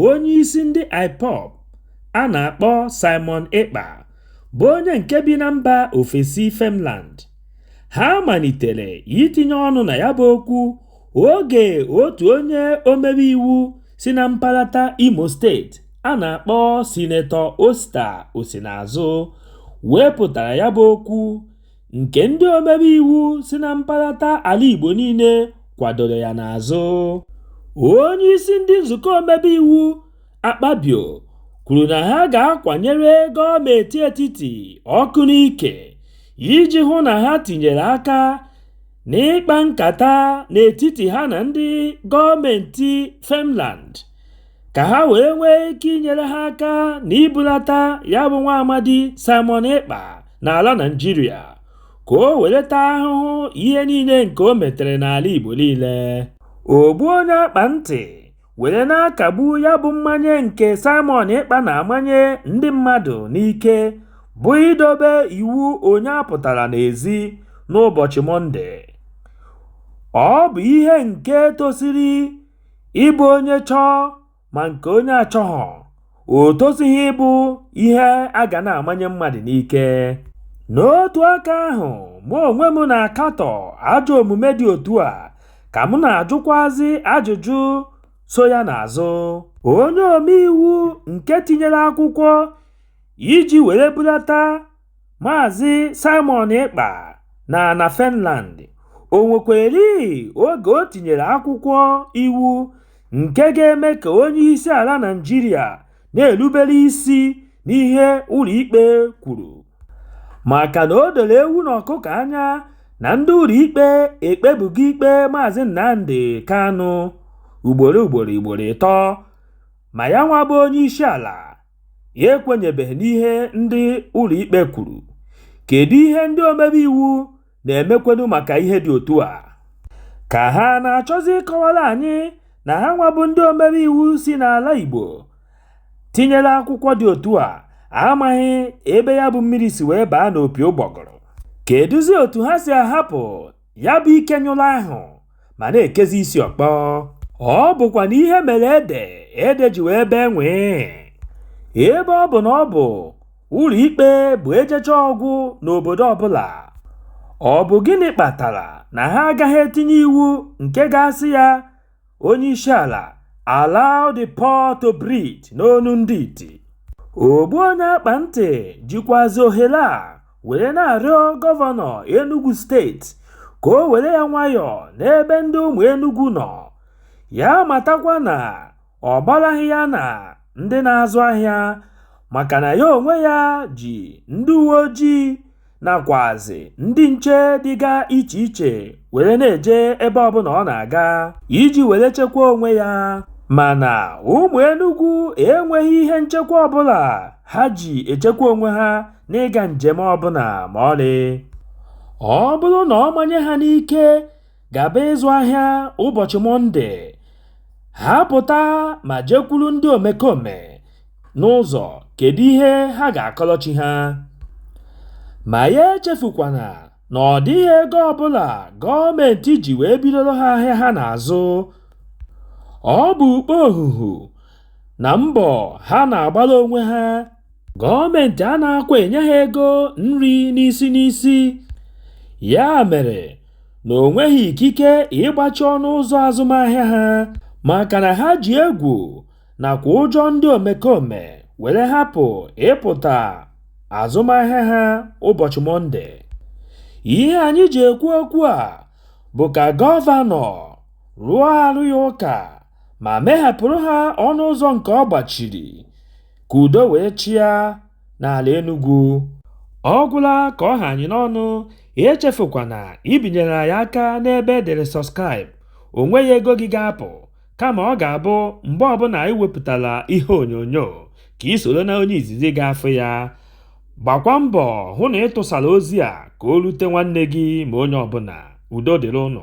onye isi ndị IPOB a na-akpọ Simon Ekpa bụ onye nke bi na mba ofesi Finland ha malitere itinye ọnụ na ya bụ okwu oge otu onye omebe iwu si na mpaghara Imo steeti a na-akpọ Sinetọ Osita Osinazụ wepụtara ya bụ okwu nke ndị omebe iwu si na mkpalata ala Igbo niile kwadoro ya n'azụ. Onye isi ndị nzukọ omebe iwu Akpabio kwuru na ha ga-akwanyere gọọmenti etiti ọkụ n'ike iji hụ na ha tinyere aka n'ịkpa nkata n'etiti ha na ndị gọọmenti Finland ka ha wee nwee ike inyere ha aka na ibulata ya bụ nwa amadi Simon Ekpa n'ala Naịjirịa ka o were taa ahụhụ ihe niile nke o metere n'ala Igbo niile ogbu onye akpa ntị were na-akagbu ya bụ mmanye nke Simon Ekpa na-amanye ndị mmadụ n'ike bụ idobe iwu onye apụtara n'ezi n'ụbọchị Mọnde ọ bụ ihe nke tosiri Ịbụ onye chọọ ma nke onye achọghọ, o tosighị ịbụ ihe a ga na-amanye mmadụ n'ike. N'otu aka ahụ, mụ onwe m na-akatọ ajọ omume dị otu a, ka m na-ajụkwazị ajụjụ so ya n'azụ. Onye omeiwu nke tinyere akwụkwọ iji were bulata Maazị Simon Ekpa n'ala Finland, o nwekwara oge o tinyere akwụkwọ iwu nke ga-eme ka onye isi ala Naịjirịa na-erubere isi n'ihe ụlọ ikpe kwuru maka na o doro ewu na ọkụkọ anya na ndị ụlọ ikpe ekpebugo ikpe Maazị Nnamdi Kanu ugboro ugboro ugboro ịtọ ma ya nwa bụ onye isi ala. ya ekwenyebeghị n'ihe ndị ụlọikpe kwuru. Kedu ihe ndị omebe iwu na-emekwenu maka ihe dị otu a? Ka ha na-achọzi ịkọwara anyị na ha nwa bụ ndị omebe iwu si n'ala Igbo tinyere akwụkwọ dị otu a amaghị ebe ya bụ mmiri si wee baa n'opi ụgbọgụrụ. Kedụzi otu ha si ahapụ Ya bụ ike nyụrụ ahụ ma na-ekezi isi ọkpọ. Ọ bụkwanụ ihe mere ede, ede ji wee bee nwee. Ebe ọ bụ na ọ bụ ụlọikpe bụ ejechaa ọ gwụ n'obodo ọbụla, ọ bụ gịnị kpatara na ha agaghị etinye iwu nke ga-asị ya onye isi ala allow the poor to breathe n'onu ndị iti ogbu onye akpa ntị jikwazi ohere a were na-arịọ gọvanọ enugu steeti ka o were ya nwayọọ n'ebe ndị ụmụ enugu nọ ya matakwa na ọ gbaraghị ya na ndị na-azụ ahịa maka na ya onwe ya ji ndị uwe ojii nakwazi ndị nche dịga iche iche were na-eje ebe ọbụla ọ na-aga iji were chekwa onwe ya mana ụmụ Enugu enweghị ihe nchekwa ọbụla ha ji echekwa onwe ha n'ịga njem ọbụla ma ọlị ọ bụrụ na ọ manye ha n'ike gaba ịzụ ahịa ụbọchị mọnde ha pụta ma jekwuru ndị omekome N'ụzọ, kedu ihe ha ga-akọlọ chi ha? Ma ya echefukwana na ọ dịghị ego ọbụla gọọmentị ji wee bidoro ha ahịa ha na-azụ. Ọ bụ okpohuhu na mbọ ha na-agbara onwe ha. Gọọmentị anaakwa enye ha ego nri n'isi n'isi. Ya mere na o nweghị ikike ịgbachi ọnụ ụzọ azụmahịa ha maka na ha ji egwu nakwa ụjọ ndị omekome were hapụ ịpụta azụmahịa ha ụbọchị Mọnde. Ihe anyị ji ekwu okwu a bụ ka gọvanọ rụọ arụ ya ụka ma mehepụrụ ha ọnụ ụzọ nke ọ gbachiri ka udo wee chịa n'ala Enugu. Ọ gwụla ka ọ ha anyị n'ọnụ, echefukwana ibinyere anyị aka n'ebe e dere subscribe, o nweghị ego gị ga-apụ. kama ọ ga-abụ mgbe ọbụla anyị wepụtara ihe onyonyo ka i soro na onye izizi ga-afụ ya gbakwa mbọ hụ na ị tụsara ozi a ka o rute nwanne gị ma onye ọbụla udo dịrị ụnụ